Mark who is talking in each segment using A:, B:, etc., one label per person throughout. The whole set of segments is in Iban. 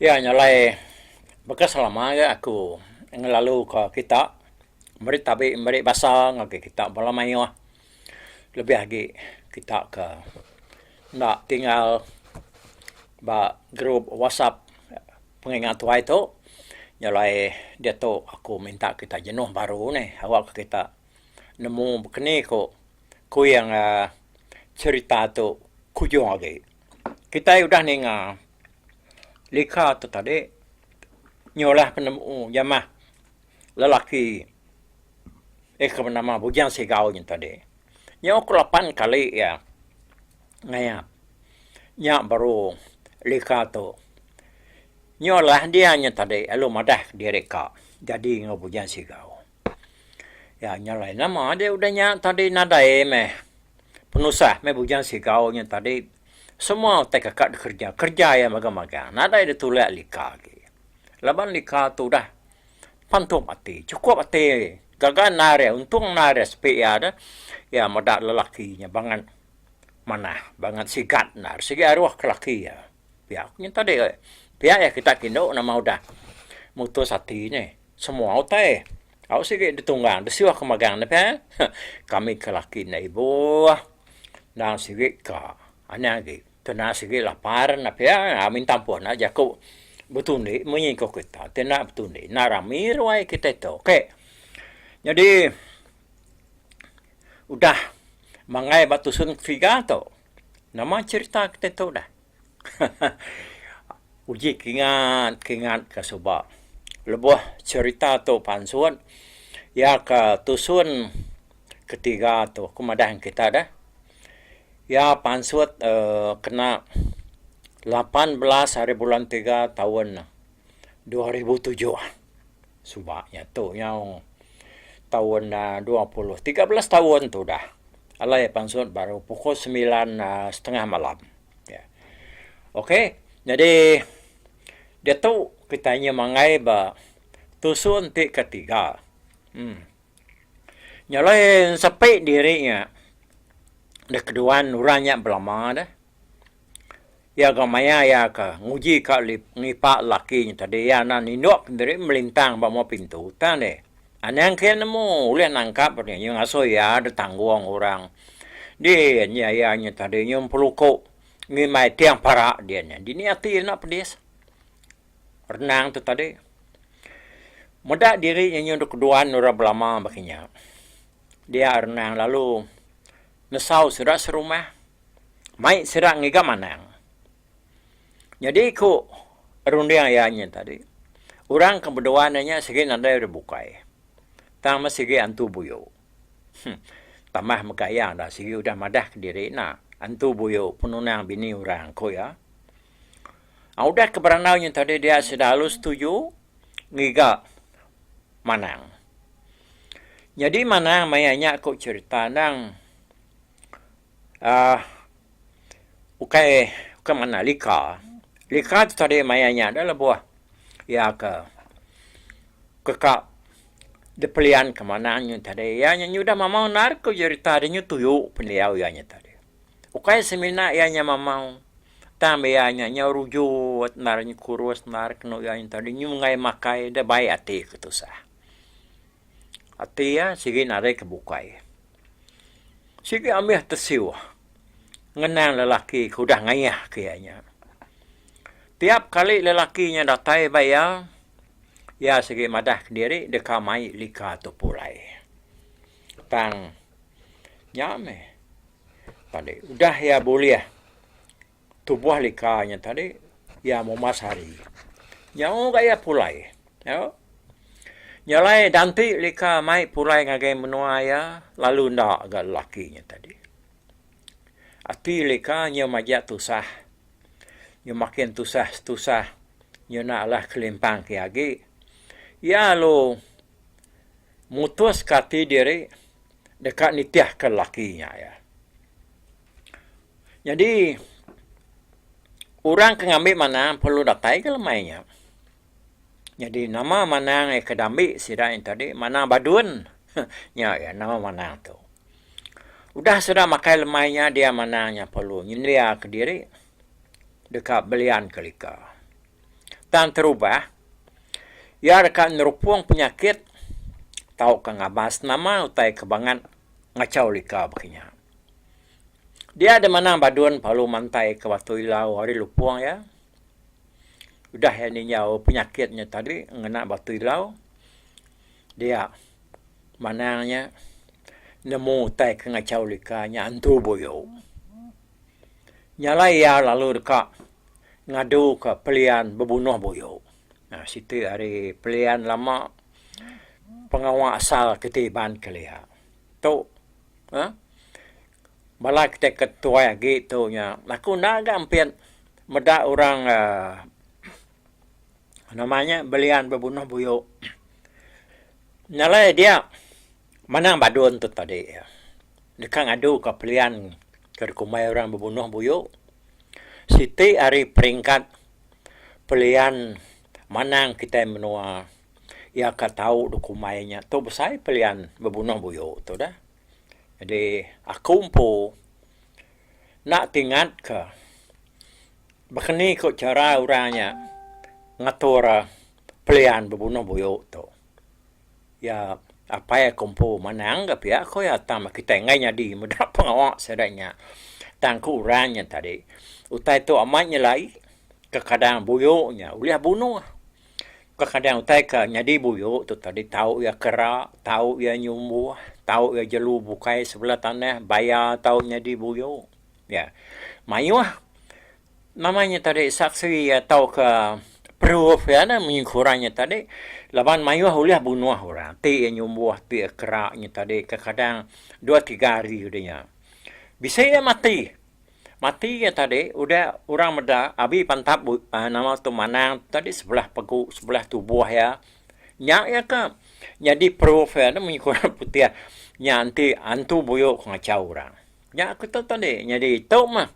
A: Iya nya alai baka selama aja aku ngelaluka kita meri tabi meri basa ngagai kita bala mayuh. Lebih agi kita ke enda tinggal ba group whatsapp penginga tuai tu nyelai diatu aku minta kita jenuh baru neh awak ka kita nemu bekeni ko kuing aaa cerita tu kujung agi. Kitai udah ninga lika tu tadi nyulah penemu jamah. Lelaki iya ke benama Bujang Sigau nya tadi, nyau ke lapan kali iya ngayap nya baru lika tu. Nyau alah dia nya tadi lalu madah diri ka jadi enggau Bujang Sigau. Iya nya alai nama dia udah nya tadi nadai meh penusah meh Bujang Sigau nya tadi. Semua utai kaka dikerja, kerja iya magang-magang. Nadai ditulak lika agi. Laban lika tu udah pantup ati, chukup ati gaga naris untung naris sepi iya tu iya meda lelaki nya bangat manah, bangat sigat enda ari segi aruh ke laki iya. Pia ku nyentadi ai. Pia iya kita kindu nama udah mutus ati nya semua utai au sigi ditunggang disuh ke magang ne pia kami ke laki enda ibuh endang sigi ka anih agi. Kena sigi lapar enda pia minta ampun enda jaku betundi munyi engkau kita ti enda betundi enda rami ruai kita tu ok nyadi udah mangai ba tusun tiga tu nama cerita kita tu dah uji kingat kingat ka suba lebuh cerita tu pansut iya ka tusun ketiga tu aku madah ngan kita dah. Iya pansut kena lapan belas ari bulan tiga taun dua ribu tujuh. Suba nya tu nyau taun dua puluh tiga belas taun tu udah. Alai pansut baru pukul semilan setengah malam. Okey jadi diatu kitai nya mangai ba tusun ti ketiga. Nya alai sepi diri nya deh keduan orang nya belama deh. Iya ga maya iya ke nguji ka ngipa laki nya tadi iya enda nindup diri melintang ba mua pintu tang deh. Anang kiye nemu ulih nangkap deh nya ngasuh iya deh tanggung orang. Di nya iya nya tadi nyun peluko ngimai tiang parak diyen nya. Dini ati iya enda pedis. renang tu tadi. Meda diri nya nyau dok keduan orang belama baka nya. Dia renang lalu nesau sida serumah. Mai sida ngiga manang. Nyadi ku runding iya nya tadi, orang ke beduan iya nya sigi nadai udah bukai. Tang meh sigi antu buyu. Huh. Tambah mega iya enda sigi udah madah ke diri enda. Antu buyu penunang bini orang, ku iya. Udah ke berandau nya tadi dia sida alu setuju ngiga Manang. Nyadi Manang maya nya ku cherita endang aah ukai ukai manah lika. Lika tu tadi maya nya dah lebuh iya ke keka dipelian ke Manang nya tadi. Iya nya nyudah mamau endar ku cherita deh nya tuyu pendiau iya nya tadi. Ukai semina iya nya mamau, tang ba iya nya nyau rujut endar nya kurus endar kenu iya nya tau di nyunggai makai enda bai ati ke tusah. Ati iya sigi narik ke bukai. Sigi ambis tesiu ngenang lelaki ke udah ngayah ke iya nya. Tiap kali lelaki nya datai ba iya, iya sigi madah ke diri deka mai lika tu pulai. Tang Nya meh tadi udah iya bulih tubuh lika nya tadi iya mumas ari. Nyau ga iya pulai. Nyau. Nya alai ganti lika mai pulai ngagai menua iya lalu enda ga lelaki nya tadi. Ati lika nya maja tusah. Nya makin tusah tusah nya enda alah kelimpang ke agi. Iya lalu. Mutuska ati diri deka nitihka lelaki nya iya. Nyadi orang ke ngambi manang perlu datai ke lemai nya. Nyadi nama manang iya ke diambi sida nya tadi manang Badun. Nya iya nama manang tu. Udah sida makai lemai nya dia manang nya perlu nyendiaka diri deka belianka lika. Tang terubah, iya deka nerupung penyakit tauka ngabas nama utai ke bangat ngachau lika baka nya. Dia deh manang Badun parlu mantaika Batu Ilau ari lupung iya. Udah iya ninjau penyakit nya tadi ngena Batu Ilau, dia manang nya nemu utai ke ngachau lika nya antu buyu. Nyalai iya lalu deka ngaduka pelian bebunoh buyu. Nah siti ari pelian lama pengawa asal kiti Iban kelia. Tu aaa bala kite ke tuai agi tu nya aku enda ga ampit meda orang aaa nama nya belian bebunoh buyu. Nyalai dia. Manang Badun tu tadi iya deka ngaduka pelian ke dikumbai orang bebunuh buyu. Siti ari peringkat pelian manang kitai menua iya ka tau dikumbai nya tu besai pelian bebunuh buyu tu dah. Jadi aku empu enda ti ngatka baka ni ko chara orang nya ngatur pelian bebunuh buyu tu. Iya, Apai aku empu manang ga pia ku iya tang ba kitai enggai nyadi meda pengawa sida nya. Tang ku orang nya tadi, utai tu amat nyelai, kekadang buyu nya ulih bunuh. Kekadang utai ke nyadi buyu tu tadi tau iya kera, tau iya nyumbuh, tau iya jelu bukai sebelah tanah, baya tau nyadi buyu. Nya. Mayuh. Nama nya tadi saksi tauka proof iya nya menyengkurang nya tadi laban mayuh ulih bunuh orang ti iya nyumbuh ti iya kera nya tadi kekadang dua tiga hari udah nya bisi iya mati. Mati iya tadi udah orang meda abi pantap nama tu manang tu tadi sebelah pegu sebelah tubuh iya nya iya ke nyadi proof iya nya menyengkurang putih nya enti antu buyu ke ngachau orang. Nya aku tu tadi nyadi tu mah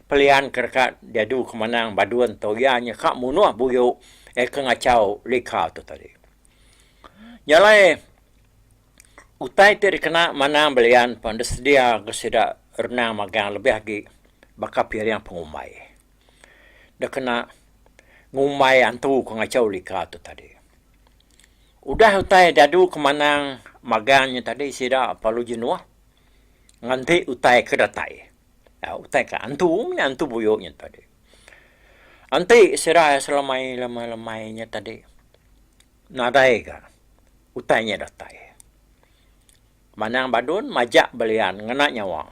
A: pelian ke deka diadu ke manang Badun tu iya nya ka munuh buyu eh ke ngachau lika tu tadi. Nya alai utai ti dikena manang belian pen disedia ke sida renang magang lebih agi baka piring pengumbai. Deh kena ngumbai antu ke ngachau lika tu tadi. Udah utai diadu ke manang magang nya tadi sida parlu jenuh. Nganti utai ke datai. Utai ke antu nya antu buyu nya tadi. Enti sida selamai-lamai nya tadi nadai ga utai nya datai. Manang Badun majak belian ngena nyawa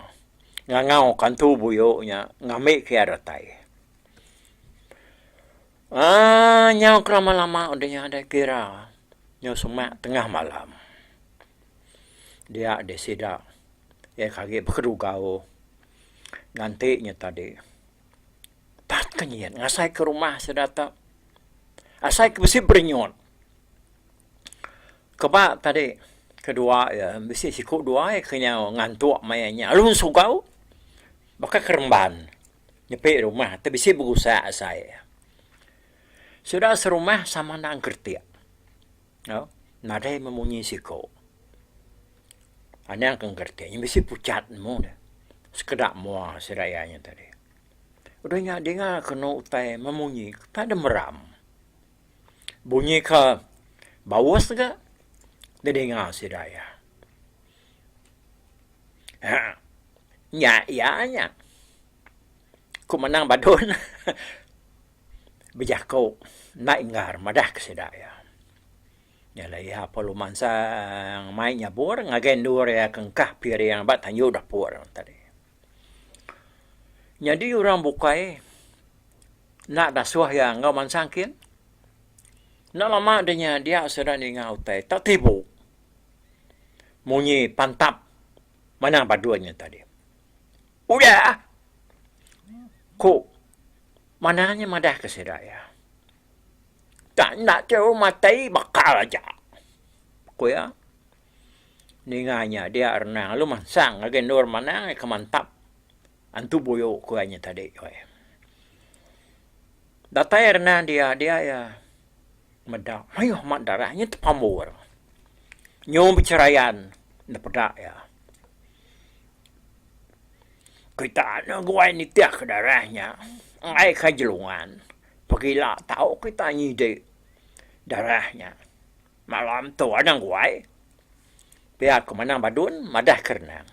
A: ngangau ka antu buyu nya ngambi ke iya datai. Aaa nyau ke lama-lama udah nya deh kira nyau semak tengah malam. Dia deh sida iya ke agi bekeduga-u nganti nya tadi. Pat ke nyin ngasai ke rumah sida tu. Asai ke bisi berinyut. Keba tadi kedua iya bisi siku dua iya ke nyau ngantuk maya nya. Lalu sugau baka keremban nyepi rumah tu bisi begusak asai iya. Sida serumah sama enda ngeretik. Au, nadai memunyi siko. Anang ke ngerti nya bisi pucat nemu deh. Sekeda mua sida iya nya tadi. Udah nya dinga kenu utai memunyi utai de meram. Bunyi ke baus ga didinga sida iya. Haa nya iya nya. Ku menang badon. bejako enda inggar madah ke sida iya. Nya alai iya Palu Mansang mai nyabur ngagai endur iya ke engkah piring ba tanju dapur tadi. Nyadi orang bukai enda dasuh iya enggau mansang kin. Enda lama deh nya dia sida ninga utai tak tibu munyi pantap manah badun nya tadi. Udah, ku manah nya madah ke sida iya. Tang enda chau matai bakal aja, ku iya. Ninga nya dia Renang lalu mansang ngagai endur Manang iya ke mantap antu buyu ku iya nya tadi. Datai Renang dia, dia iya. Meda mayuh amat darah nya tepambur. Nyau becherayan enda peda iya. Kita anu guai nitihka darah nya ngaika jelungan. Pegila tau kita nyidi darah nya. Malam tu anang guai pia ke Manang Badun madah ke renang.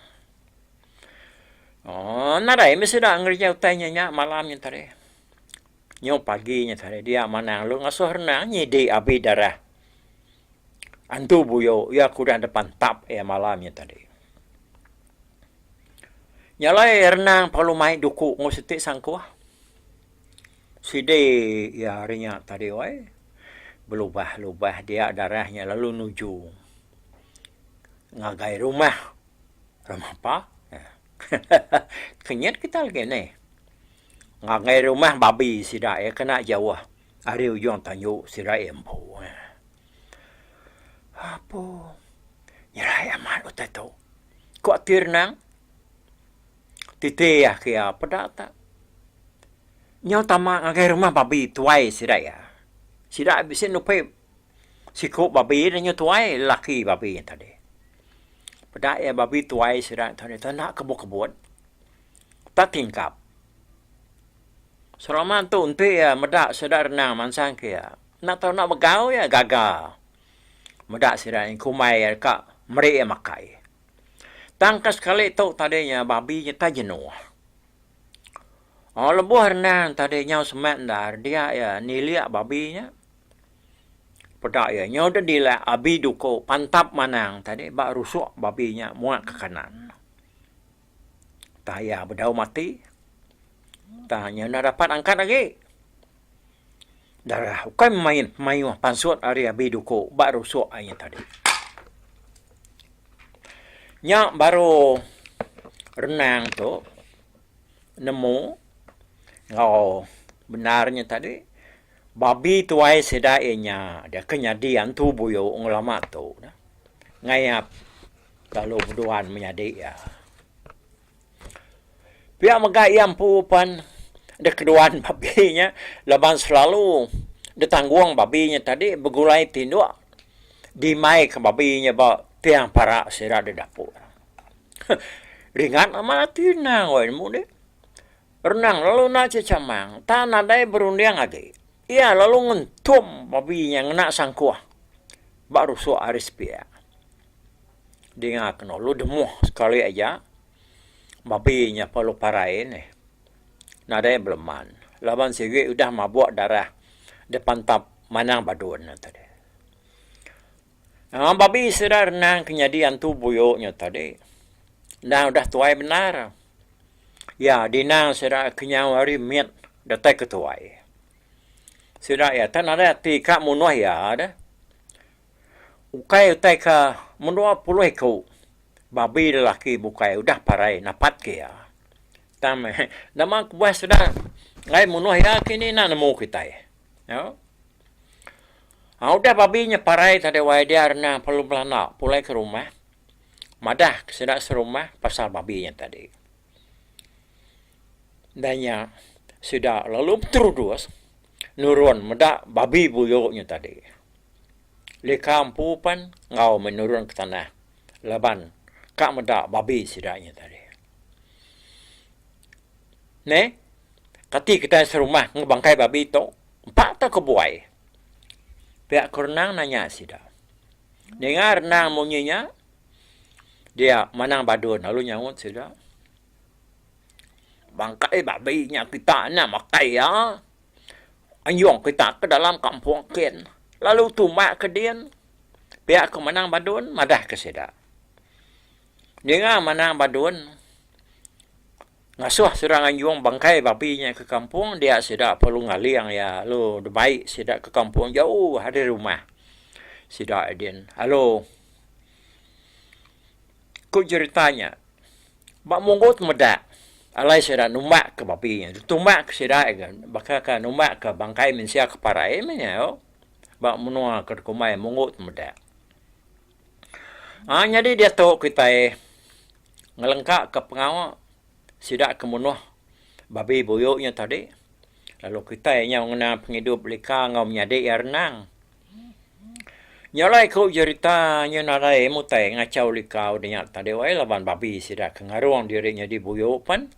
A: Nadai meh sida ngereja utai nya nya malam nya tadi. Nyu pagi nya tadi dia manang lu ngasuh renang nyidi abi darah antu buyu iya ke udah depan tap iya malam nya tadi. Nya alai renang perlu mai duku enggau siti sangkuh. Sidi iya hari nya tadi wai belubah-lubah dia darah nya lalu nuju ngagai rumah Ramapa. Kenyit kita lagi nih. Ngagai rumah babi sida iya kena jauh ari ujung tanju sida iya empu. Apo nyerai amat utai tu. Ko Tir Nang titi agi iya peda tak. Nyau tama ngagai rumah babi tuai sida iya. Sida bisi nupi siku babi danyu tuai lelaki babi tadi. Peda iya babi tuai sida tadi tu enda kebut-kebut. Tatingkap. Seroman tu enti iya meda sida renang mansang ke iya, enda tau enda begau iya gaga meda sida nyin kumbai iya deka meri iya makai. Tang ke sekali tu tadi nya babi nyetah jenuh. Aw lebuh renang tadi nyau semak endar dia iya nilik babi nya. Peda iya nyau deh dilik abi duko pantap manang tadi ba rusuk babi nya muak ke kanan. Tah iya bedau mati, tah iya enda dapat angkat agi. Darah ukai main mayuh pansut ari abi duku ba rusuk aye tadi. Nya baru renang tu nemu enggau bendar nya tadi babi tuai sida iya nya deka nyadi antu buyu ngelama tu. ngayap lalu beduan menyadi iya. Pia mega iya empu pan dek keduan babi nya laban selalu ditanggung babi nya tadi begulai tinduk dimaika babi nya ba tiang parak sida da dapur. Huh ringat amat ati endang weh nemu nih. Renang lalu enda cechamang. Tan nadai berunding agi. Iya lalu ngentum babi nya ngena sangkuh ba rusuk ari sepia. Dinga Kenolu demuh sekali aja, babi nya perlu parai nih. Nadai beleman laban sigi udah mabuk darah dipantap manang badun nya tadi. Aa babi sida renang ke nyadi antu buyu nya tadi. Endang udah tuai bendar. Iya dinang sida kenyau hari mit datai ke tuai. Sida iya tah nadai ati ka munuh iya deh. Ukai utai ka mendua puluh iku babi lelaki bukai udah parai napat ke iya. Tang meh nama kebuah sida ai munuh iya kini enda nemu kitai. Au. Haa udah babi nya parai tadi wai dia renang pelu belana pulai ke rumah madah ke sida serumah pasal babi nya tadi. Dah nya sida lalu beterudus nurun meda babi buyu nya tadi. Lika empu pen enggau meh nurun ke tanah laban ka meda babi sida nya tadi. Neh kati kitai serumah enggau bangkai babi tu. Empat ka kebuai. Pia ke Renang nanya sida. Ninga Renang munyi nya, dia Manang Badun lalu nyaut sida, Bangkai babi nya kita enda makai iya. Anjung kita ke dalam kampung kin, lalu tumbak ke din. Pia ke Manang Badun madah ke sida. Ninga Manang Badun. Ngasuh sida nganjung bangkai babi nya ke kampung dia sida perlu ngaling iya lalu demai sida ke kampung jauh ari rumah sida din lalu ku jerita nya ba munggu temedak alai sida numbak ke babi nya ditumbak ke sida baka ke numbak ke bangkai mensia ke parai meh nya ba menua ke dikumbai munggu temedak. Aa nyadi diatu kitai ngelengkaka pengawa sida ke munuh babi buyu nya tadi lalu kitai nyau ngena pengidup lika enggau menyadi iya renang. Nya alai ku jerita nya nadai mutai ngachau lika udah nya tadi wai laban babi sida ke ngarung diri nyadi buyu pen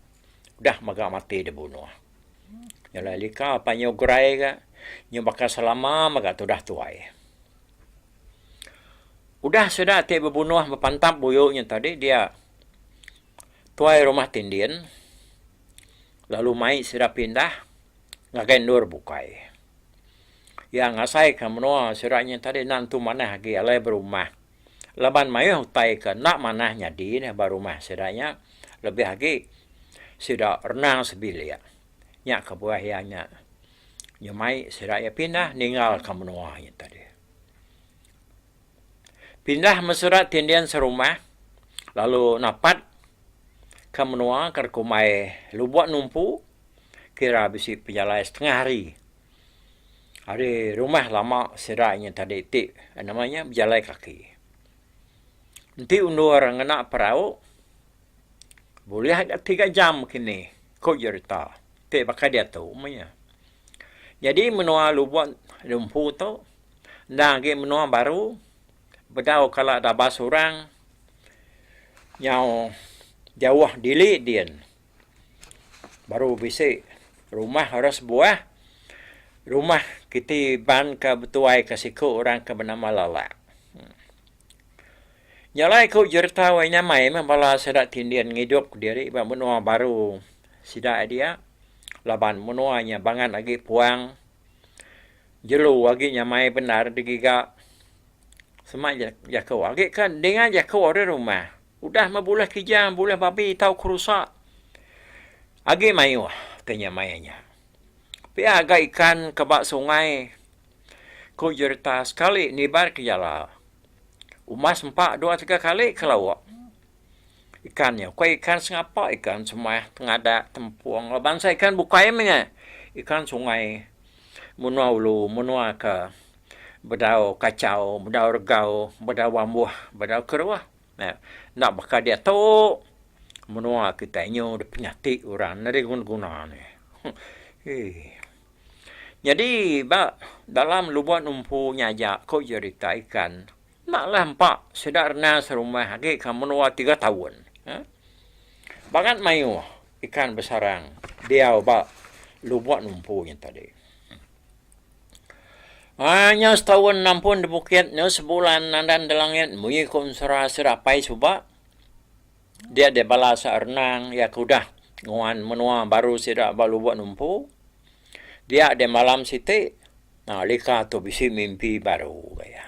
A: udah mega mati dibunuh. Nya alai lika panyu gerai ga nya baka selama mega tudah tuai. Udah sida ti bebunuh bepantap buyu nya tadi dia tuai rumah ti ndin lalu mai sida pindah ngagai endur bukai. Iya ngasai ka menua sida nya tadi enda nentu manah agi alai berumah laban mayuh utai ka enda manah nyadi neh ba rumah sida nya lebih agi sida renang sebilik nya kebuah iya nya. Nya mai sida iya pindah ningal ka menua iya tadi. Pindah meh sida ti endin serumah lalu napat ka menua ka dikumbai Lubok Numpu kira bisi pejalai setengah hari ari rumah lama sida iya tadi ti nama iya bejalai kaki. Enti endur ngena perau. Bulih aja tiga jam kini, ku jerita ti baka diatu meh iya. Nyadi menua lubok di empu tu endang agi menua baru bedau kala dabas orang nyau jauh dili din baru bisi rumah orang sebuah, rumah kiti banka betuai ka siku orang ke benama Lalak. Nya alai ku Jerta wai nyamai meh bala sida tindin ngidupka diri ba menua baru sida dia laban menua nya bangat agi puang, jelu agi nyamai bendar digiga. Sema ja jaku agi ke dinga jaku ari rumah udah meh bulih kerja bulih babi tau kerusa agi mayuh ke nyamai nya. Pia ga ikan ke ba sungai. Ku Jerta sekali nibar ke jala. Uma sempa dua tiga kali ke lauk ikan nya. Ku iya ikan sengapa, ikan semah, tengadak, tempung laban bansa ikan bukai menya ikan sungai menua ulu, menua ke bedau kachau, bedau regau, bedau bambuh, bedau keruh. Enda baka diatu menua kitai nyu dipenyati orang enda diguna-guna ne. Hee. Nyadi ba dalam lubon empu nya aja ko jerita ikan enda lah empa sida renang serumah agi ka menua tiga taun. Bangat maioh ikan besarang diau ba lubon empu nya tadi. Haa nya setaun nampun di bukit nya sebulan nandan di langit munyi ko ensera sida apai suba. Dia deh bala sak renang iya ke udah nguan menua baru sida ba Lubok Numpu. Dia deh malam siti, nah lika tu bisi mimpi baru ba iya.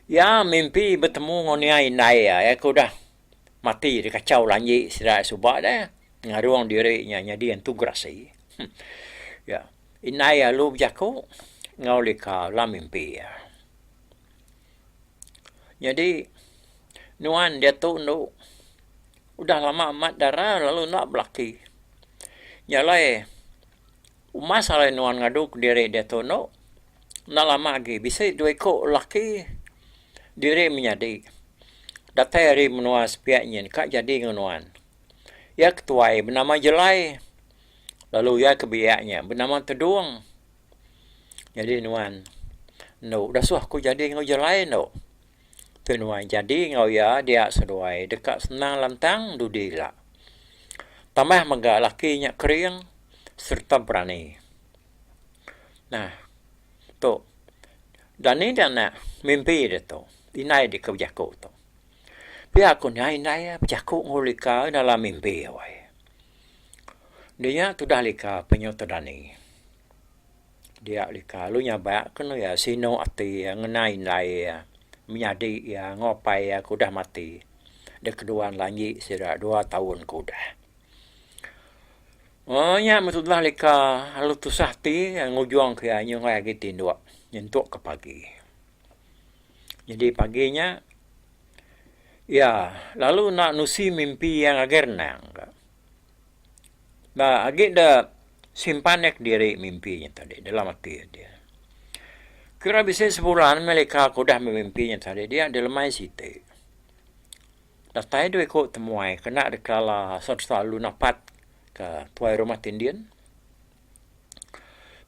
A: Iya mimpi betemu enggau nia indai iya, iya ke udah mati dikachau lanji sida iya suba deh ngarung diri nya nyadi Entu Gerasi. Iya, indai iya lalu bejaku enggau lika dalam mimpi iya. Nyadi nuan diatu enu udah lama amat dara lalu enda belaki. Nya alai umas alai nuan ngadu kediri diatu enu enda lama agi bisi dua iku laki diri menyadi. Datai ari menua sepiak nyin ka jadi ngan nuan. Iya ketuai benama Jelai lalu iya ke biak nya benama Tedung. Jadi nuan endo udah suah aku jadi enggau jelai endo. Tu nuan jadi enggau iya dia seduai deka senang lantang dudi ila. Tambah mega laki nya kering sereta berani. Nah tu dani da anak mimpi deh tu indai deka bejaku tu. Pia ku nya indai bejaku enggau lika dalam mimpi alai. Dinya tudah lika penyu tu dani. Dia lika lalu nyabak ke anu iya sinu ati iya ngena indai iya menyadi iya enggau apai iya ke udah mati deh kedua ne lanji sida dua taun ke udah. Moh nya moh tudah lika lalu tusah ati iya ngujung ke iya nyungkai agi tinduk nyentuk ke pagi. Nyadi pagi nya iya lalu enda nusi mimpi iya ngagai renang ka. ba agi da simpan iya kediri mimpi nya tadi dalam ati dia. Kira bisi sebulan meh leka aku udah bemimpi nya tadi dia dilemai siti. Datai dua iku temuai kena deka la sereta lu napat ka tuai rumah ti ndin.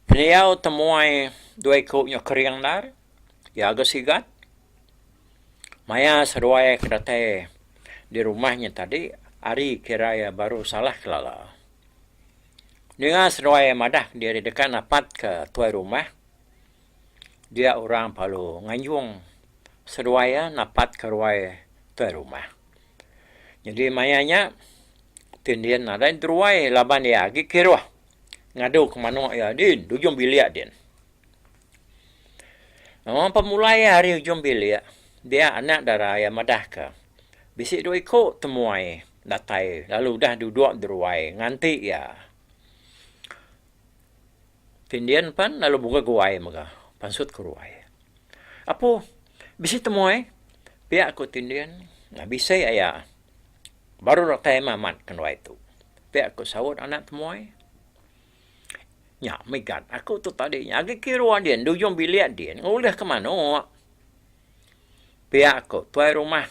A: Pendiau temuai dua iku nya kering ndar, iya ga sigat. Maya seduai ke datai di rumah nya tadi ari kira iya baru salah kelala. Ninga seduai madah diri deka napat ke tuai rumah, dia orang palu nganjung seduai iya napat ke ruai tuai rumah. Nyadi maya nya ti din nadai druai laban iya agi kiruh ngadu ke manuk iya din di ujung bilik din. Nengah pemulai iya hari ujung bilik, dia anak dara iya madahka, Bisi dua iku temuai datai lalu udah duduk deruai nganti iya. Tin din pan lalu bungga guai mega pansut ke ruai. Apu, bisi temuai? Pia ku tin din. Bisi aya. Baru datai amat ke nduai tu, pia ku saut anak temuai. Nya mega aku tu tadi nya. Agi kiruh din, di ujung bilik din ngulih ke manuk. Pia aku, tuai rumah.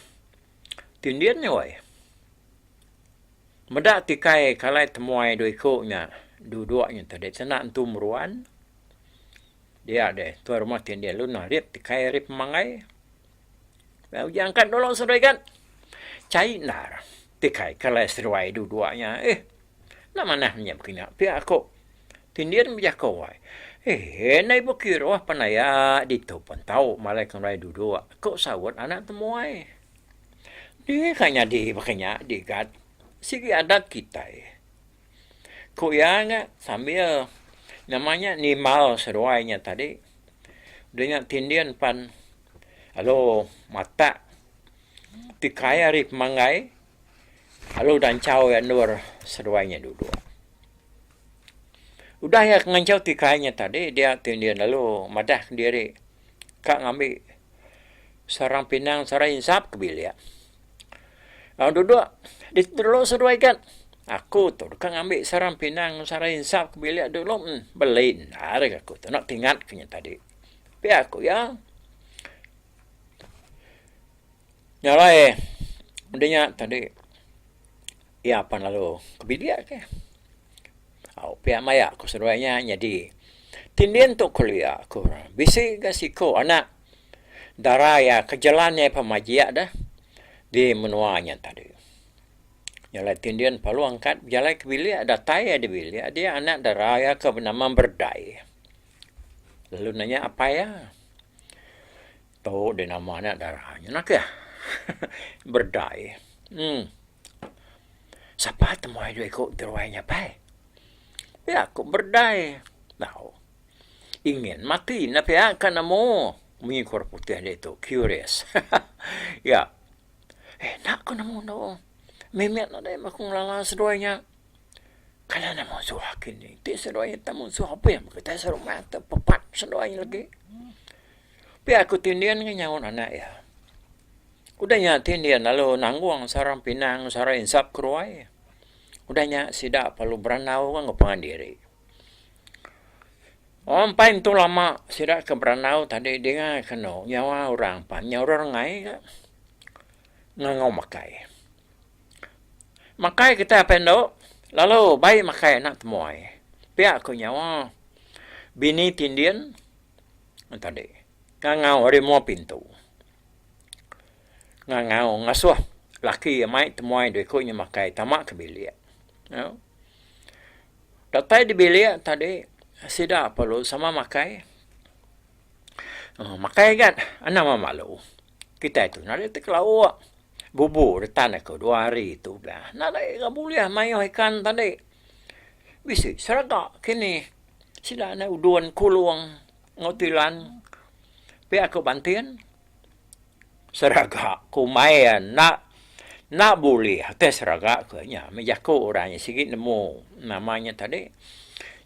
A: Ti din nya weh. Meda tikai kalai temuai dua iku nya. Duduk nya tadi senda entu meruan. Dia deh, tuai rumah ti din lalu nah rip tikai ari pemanggai. Lalu uji angkat dulu serega. Chai endar. Tikai kalai seruai duduk nya. Eh. Enda manah nya bekena pia aku. Tindin bejaka wai. Hee endai bekiruh pan aya ditu pun tau malaika ngeruai duduk, ku saut anak temuai. Deh ka nyadi baka nya digat, sigi adat kitai, ku iya nya sambil nama nya nimbal seruai nya tadi. Udah nya tindin pan lalu matak tikai ari pemanggai Lalu udah enchau iya endur, seduai nya duduk. Udah iya ngenchau ti kai nya tadi, dia ti endin lalu madah diri ka ngambi seorang pinang, seorang insap ke bilik. Lalu duduk, ditu dulu seduai gat. Aku tu deka ngambi seorang pinang, seorang insap ke bilik dulu en. Beli endar ke aku tu enda tingatka nya tadi. Pia ku iya. Nya alai udah nya tadi iya apan lalu ke bilik ke. Au pia maya ku seduai nya nyadi ti ndin tu kelia ku orang. Bisi ga siko anak dara iya ke jelan iya pemajik deh di menua nya tadi. Nya alai ti ndin lalu angkat bejalai ke bilik datai iya di bilik dia anak dara iya ke benama Berdai lalu nanya apai iya. Tu deh nama nya dara nya nah kah. Berdai. Uhh. Sapa temuai dua iku ti ruai nya pai? Pia ku berdai. Tau. Ingin mati ne pia ka nemu munyi ku orang putih ditu. Curious. Iya. Eh enda ku nemu enda oh. Mimit ne deh aku ngelala seduai nya. Kanan ne munsuh agi ni. Ti seduai nya tak munsuh abih mega tai serumah. Pepat seduai nya legi. Pia ku Tin Din ke nyaut anak iya. Udah nya Tin Din lalu nanggung sarang pinang sarang insap ke ruai. Udah nya sida lalu berandau enggau pangan diri. Orang empai entu lama sida ke berandau tadi dingai ke anu nyawa orang pan nya orang rengai ga ngangau makai. Makai kitai apai endo lalu bai makai anak temuai. Pia ku nyawa bini Tin Din. Tadi ngangau ari mua pintu. Ngangau ngasuh laki iya mai temuai dua iku inya makai tama ke bilik. Au. Datai di bilik tadi sida perlu sama makai. Makai agat anang memalu. Kitai tu narit ti kelauk bubu retan aku dua hari tu bela. Narit ira bulih mayuh ikan tadi. Bisi seraga kinih. Sida andai udon Kulong enggau Tilan pia ke Bantin. Seraga ke umai iya enda enda bulih akai seraga ke nya meh jaku orang nya sigi nemu nama nya tadi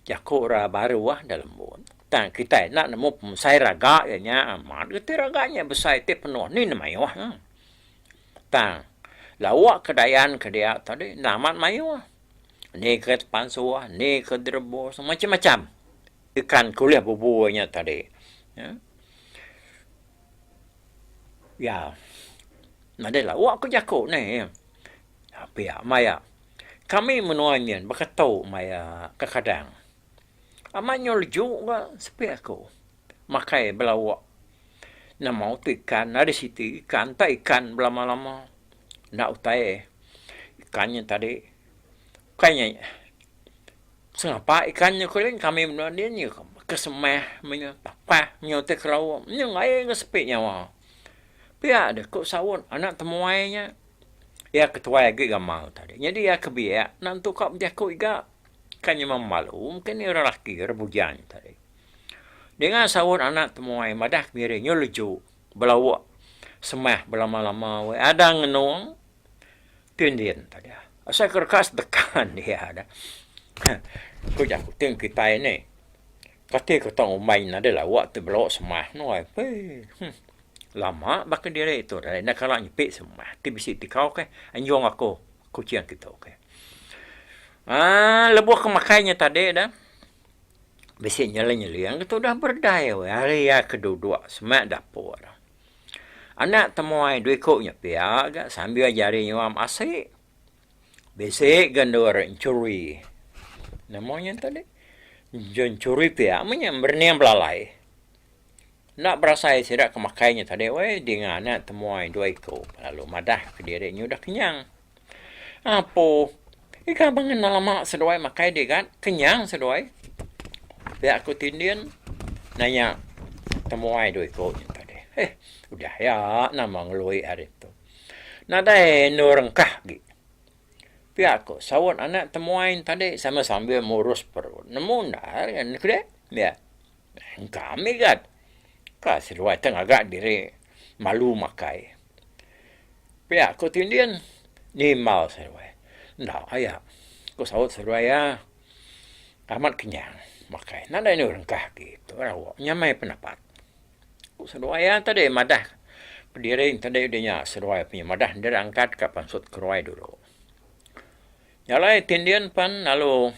A: jaku orang baru ah da lembut. Tang kitai enda nemu pemesai raga iya nya amat reti raga nya besai ti penuh ni ne mayuh nya. Tang lauk ke dayan ke dia tadi enda amat mayuh. Ni ke tepansuh, ni ke direbus, macam-macam ikan ke ulih bebua nya tadi. Iya. Nadai lawa ku jaku ne. Pia maya kami menua nyin baka tu maya ke kadang. Amat nyau leju ka sepi aku. makai belauk. Nama utai ikan ari siti ikan enta ikan belama-lama. Enda utai ikan nya tadi. Bukai nya sengapa ikan nya ko yen kami menua din nya kesemah meh nya tapah nya utai kerauk nya lain ke sepi nyawa. Pia deh ko saut anak temuai nya iya ketuai agi gamal tadi. Nyadi iya ke biak enda entuk ka bejaku iga. Ka nyema malu mega ni orang laki orang bujan tadi. Ninga saut anak temuai madah kemiri nyu leju belauk semah belama-lama weh ada ngenung tu indin tadi. Asai ke deka sedekan dia dah. Ku jaku ti kitai ni kati ke tau ngumbai nadai lauk ti belauk semah nuai eii. Lama baka diri tu deh enda kala nyepi semah ti bisi ti kau keh anjung aku. Kuching agi tu okey. Ah lebuh ke makai nya tadi dah bisi nyeling-nyeling ke tu dah berdai weh hari iya ke duduk semak dapur. Anak temuai dua iku nya pia ga sambil jari nyuam asi. Bisi ga endur enchuri. Nama nya tadi? Enchuri pia meh nya berening belalai. Enda berasai sida ke makai nya tadi weh dinga anak temuai dua iku lalu madah ke diri nya udah kenyang. Apo ika bang enda lama seduai makai digat kenyang seduai pia aku ti ndin nanya temuai dua iku nya tadi. Heh udah ya nama ngelui hari tu. Nadai endur rengkah agi pia ko saut anak temuai tadi sambil-sambil murus perut. Nemu enda ari anu ke dia. Engka migat. Ka seduai te ngaga diri malu makai. Pia ku tindin nimbal seduai. Enda aya, ku saut seduai iya amat kenyang makai. Nadai anu rengkah agi tu rawa nya meh penapat, ku seduai iya tadi madah pediring tadi udi nya seduai punya madah endar angkat ka pansut ke ruai dulu. Nya alai ti endin pan lalu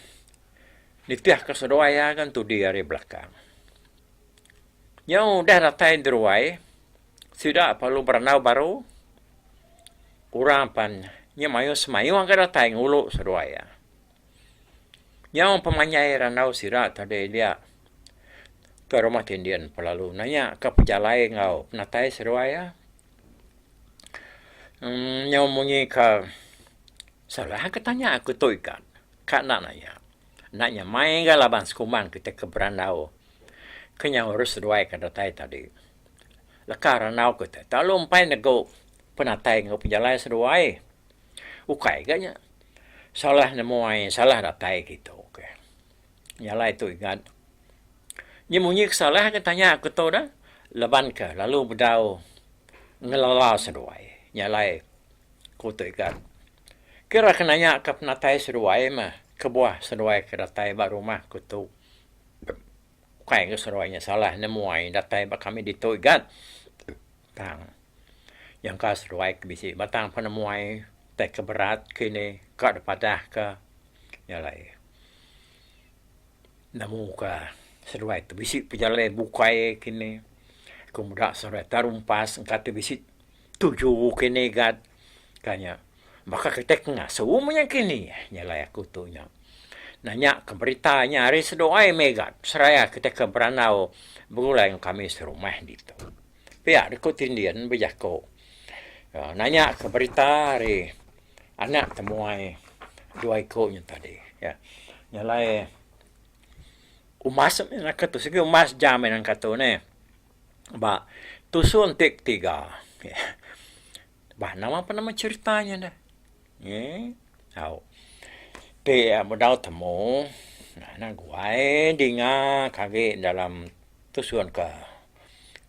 A: nitihka seduai iya ngan tudi ari belakang. Nyau udah datai diruai, sida lalu berandau baru, orang pan nya mayuh semayuh ga datai ngulu seduai iya. Nyau pemanjai randau sida tadi dia ke rumah ti endin pan lalu nanyaka pejalai enggau penatai seduai iya. Emm nyau munyi ka salah ka tanya aku tu ika. Ka enda naya. Enda nya mai ga laban sekumbang kita ke berandau ke nyau harus seduai ka datai tadi. Leka randau ke te telalu empai negu penatai enggau pejalai seduai. Ukai ga nya salah nemuai salah datai kitu ke. Jalai tu igat. Nya munyi ke salah ke tanya aku tu dah laban ke lalu bedau ngelala seduai. Jalai ku tu igat. Kira ke nanya ke penatai seduai mah kebuah seduai ke datai ba rumah ku tu. Ukai ke seduai nya salah nemuai datai ba kami ditu igat tang. Nyangka seduai ke bisi batang penemuai tai ke berat ke ini ka dipadah ke nya alai nemu ka seduai tu bisi pejalai bukai ke ini ke muda seduai ta rumpas engka ti bisi tuju ke ini gat ka nya baka kitai ke ngasu mung nya ke ini nya alai aku tu nya. Nanya ke berita nya ari seduai meh gat seraya kitai ke berandau begulai enggau kami serumah ditu. Piak Deku Tindin bejaku nanya ke berita ari anak temuai dua iku nya tadi ya. Nya alai umas mih naka tu sigi umas jam mih nangkah tu neh. Ba tusung ti ketiga. Bah nama pun nama cerita nya dah. Ye. Au. Ti bedau temu na guai dinga ke agi dalam tusun ke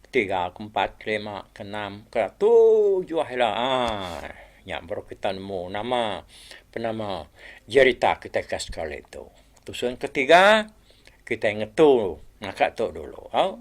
A: tiga ke empat ke lima ke enam ke tujuh ila. Aa. Nya baru kita nemu nama penama jerita kita ke sekali tu. Tusun ke tiga kita ngetu ngaka tu dulu. Au.